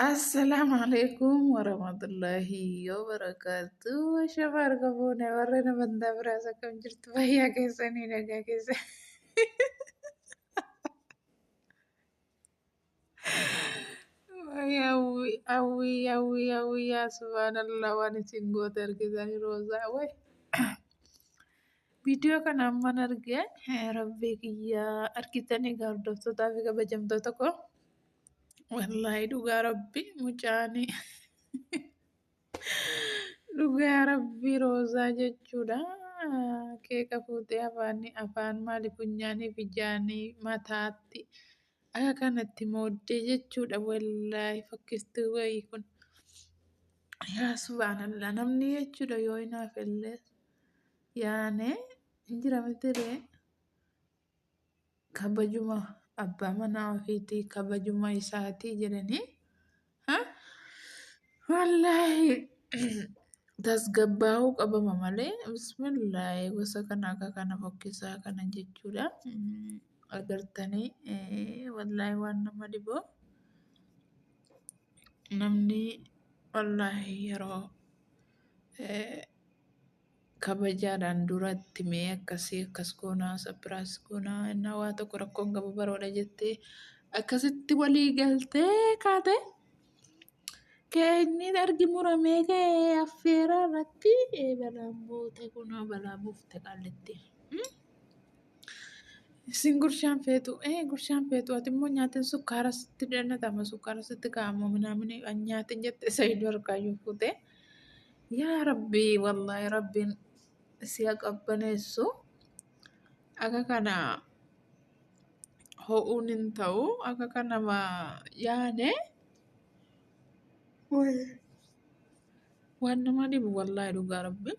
Assalamu alaikum warahmatullahi wabarakatuh. Shafa harka fuune warra nama hundaa biraas akkam jirtu fayyaa keessanii nagaa keessa. Wayii hawwii hawwii hawwii hawwii yaa subhaanallah waan isin goote argitanii roozaa way. Viidiyoo kana amman arge rabbii kiyya argitanii egaa hordoftootaa fi kabajamtoota koo wallaahi dhugaa rabbii mucaanii dhugaa rabbii roozaa jechuudha keeka fuutee afaanii afaan maali funyaanii fi jaanii mataatti akka kanatti mooddee jechuudha wallaahi fakkistuu wayii kun yaa subhaanallah namni jechuudha yoo hinaaf illee yaane hin jira mitiree kabajuma abbaa manaa ofiitii kabajuma isaatii jedhanii ha wallaahi tasgabbaa'uu qabama malee bismillaahi gosa kana akka kana fokkisaa kana jechuudha Mm, agartanii eh, wallaahi waan nama dhiboo namni wallaahi yeroo eh, kabajaadhaan duratti mee akkasii akkas goonaa sapiraas goonaa innaa waa tokko rakkoon qabu baroodha jettee akkasitti walii galtee kaate keenyi argi muramee ka'ee affeeraa irratti ee balaan buute kunoo balaa buufte qaallitti. Hmm? Isin gurshaan feetu ee gurshaan feetu ati immoo nyaatiin sukkaara sitti dannatama sukkaara sitti kaa'amu minaamini nyaatiin jette isa iddoo harkaayyuu fuutee. Yaa rabbii wallahi rabbiin siya qabbaneessu akka kana ho'uun hin ta'u akka kana ma yaane waan nama dhibu wallahi dhugaa rabbiin.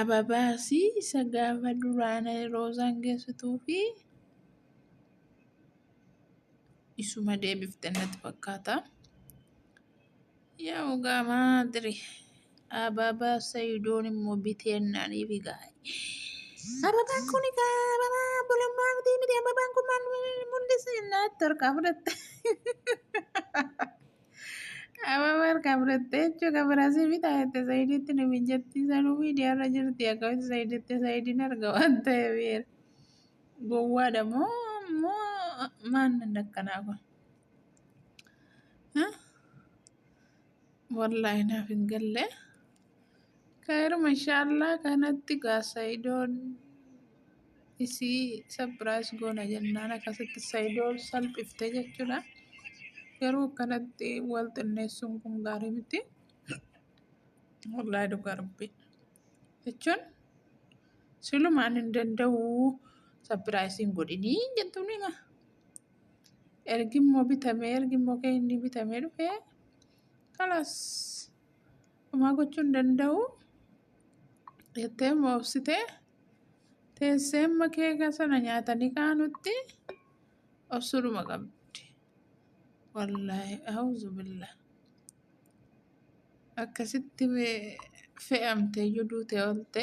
Ababaasi isa gaafa duraan roozaan geessituu fi isuma deebifte natti fakkaata. Yaa mugaa maadri ababaa sayidoon immoo biteennaanii fi gaa'e. Ababaan kun egaa ababaa obbolummaa miti miti ababaan kun maal mul'isa jennaan itti harkaa fudhatte. Ababaa harkaa fudhatte jechuun kan biraasii fi taa'ette sayidiitti nu mijatti sanuu miidiyaarra jirti akkamitti sayiditti sayidiin arga waan ta'eef gowwaadha moo moo maannan akkanaa kun. Wallahi naaf hin galle. Kaayiruma inshaallah kanatti gaasayidoon isii sabbiraayis goona jennaan akkasitti sayidoon salphifte jechuudha. Garuu kanatti wal xinneessuun kun gaarii miti. Wallahi dhugaa rabbi. Jechuun silumaan hin danda'u sabbiraayisiin godhinii jettuun hima. ergi immoo bitamee ergi immoo kan inni bitamee dhufe kalas homaa gochuu hin danda'u jettee immoo obsite teessee amma keeka sana nyaatanii kaanutti obsuudhuma qabdi wallaahi auzu billa akkasitti fe'amtee iyyuu duutee oolte.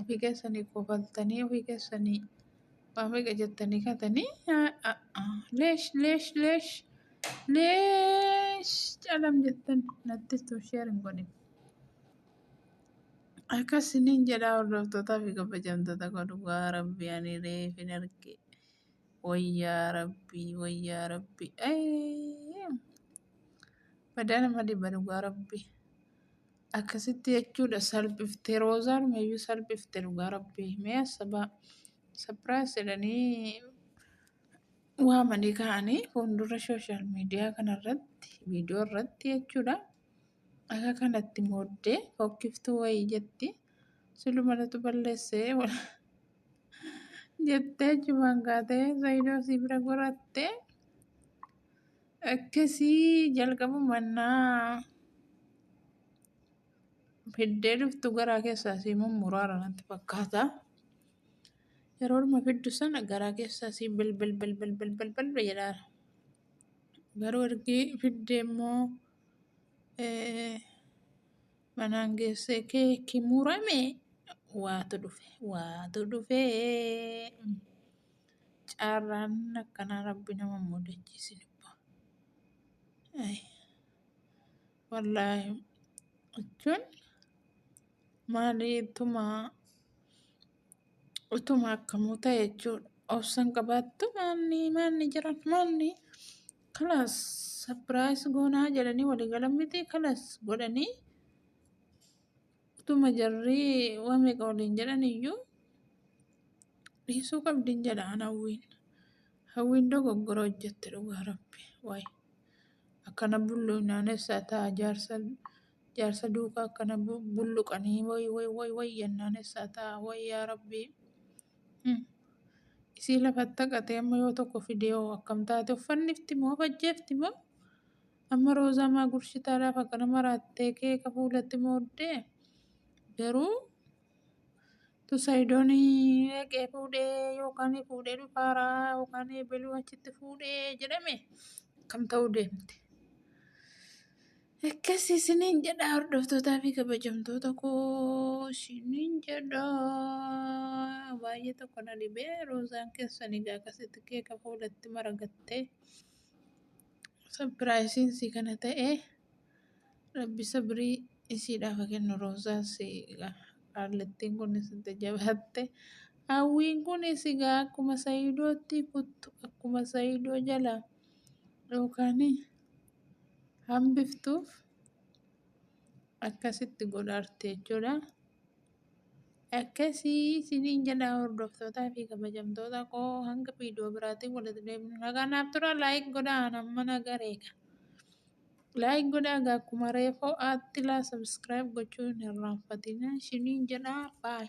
Ofii keessanii kofaltanii ofii keessanii waa meeqa jettanii katanii leesh leesh leesh leesh calam jettan natti tu sheer hin godhin. Akkas isiniin jedhaa hordoftootaa fi kabajamtoota koo dhugaa rabbii ani reef hin arge. Wayyaa rabbii wayyaa rabbii ayii badaa nama dhiba dhugaa rabbii. Akkasitti jechuudha salphifte roozaan meeyyuu salphifte dhugaa rabbii mee asabaa sapiraas jedhanii waamanii ka'anii fuuldura sooshaal miidiyaa kanarratti viidiyoo irratti jechuudha akka kanatti mooddee fokkiftuu wayii jetti silumalatu balleessee jettee achumaan kaatee zayidoo sii bira gorattee Akkasii jalqabu mannaa fiddee dhuftu garaa keessaa sii mummuraara natti fakkaata. Yeroo dhuma fiddu sana garaa keessaa sii bilbil bilbil bilbil bilbil jedhaara. Garuu ergi fiddee immoo manaan geessee keeki murame waatu dhufe waatu dhufee. Carraan akkanaa rabbi nama hin mudachiisin ibbo. Ay, Wallaahi jechuun maali utuma utuma akkamuu ta'e jechuudha. Obsan qabaattu maalni maalni jiran maalni kalaas sapiraayis goonaa jedhanii walii galan miti kalaas godhanii Utuma jarri waan meeqa waliin jedhan iyyuu dhiisuu qabdin jedha an hawwiin. Hawwiin dogoggora hojjette dhugaa rabbi. Waay akkana bulluunaanessaa ta'a jaarsa jaarsa duukaa akkana bu- bulluqanii way way way way yennaanessaa ta'a way yaa rabbi. Hmm. Isii lafatti haqatee amma yoo tokko fidee hoo akkam taate uffannifti moo fajjeefti moo Amma roozaa maa gurshitaa laaf akkana maraattee keeka fuulatti mooddee garuu tu sayidoon dhaqee fuudhee yookaan fuudhee dhufaaraa yookaan beluu achitti fuudhee jedhame akkam ta'uu deemte. Akkas isiniin jedha hordoftootaa fi kabajamtoota koo isiniin jedha baay'ee tokko na dhibee roozaan keessan egaa akkasitti keeka fuulatti maragattee. Sapiraayisiin si kana ta'e rabbi sabrii isiidhaaf haa kennu roozaas qaallattiin kunis itti jabaatte hawwiin kunis egaa akkuma sayiidootti kuttu akkuma sayiidoo jala yookaan hambiftuuf akkasitti godhaarti jechuudha. Akkasii isiniin jedha hordoftootaa fi kabajamtoota koo hanga viidiyoo biraatiin walitti deebinu. Nagaa naaf tura laayik godhaa an amma na gareega. Laayik godhaa egaa akkuma reefoo aatti laa sabiskiraayib gochuu hin irraanfatina isiniin jedha baay.